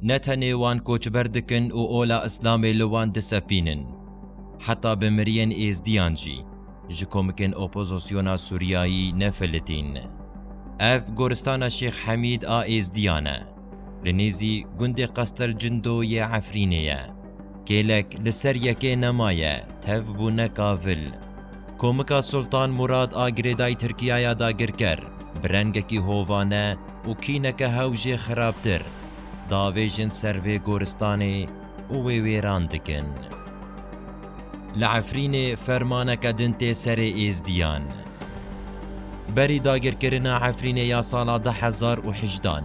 Ne tenê wan koçber dikin û ola Îslamê li wan disefînin. Heta bi miriyên Êzdiyan jî, ji komikên opozosyona Sûriyayî ne filitîn. Ev goristana Şêx Hemîd a Êzdiyan e. Li nêzî gundê Qastel Cindo yê Efrînê ye. Kêlek li ser yekê nemaye, tev bûne kavil. Komika Sultan Murad a girêdayî Tirkiyaya dagirker, bi rengekî hovane û kîneke hew jê xirabtir, davêjin ser vê goristanê û wê wêran dikin. Li Efrînê fermaneke din tê serê Êzdiyan. Berî dagirkirina Efrînê ya sala du hezar û hejdan,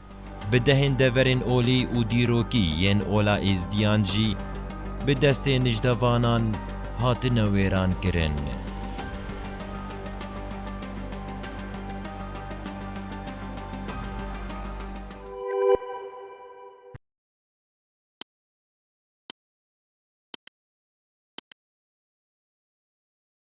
Bi dehên deverên olî û dîrokî yên Ola Êzdiyan jî bi destê nijdevanan hatine wêrankirin.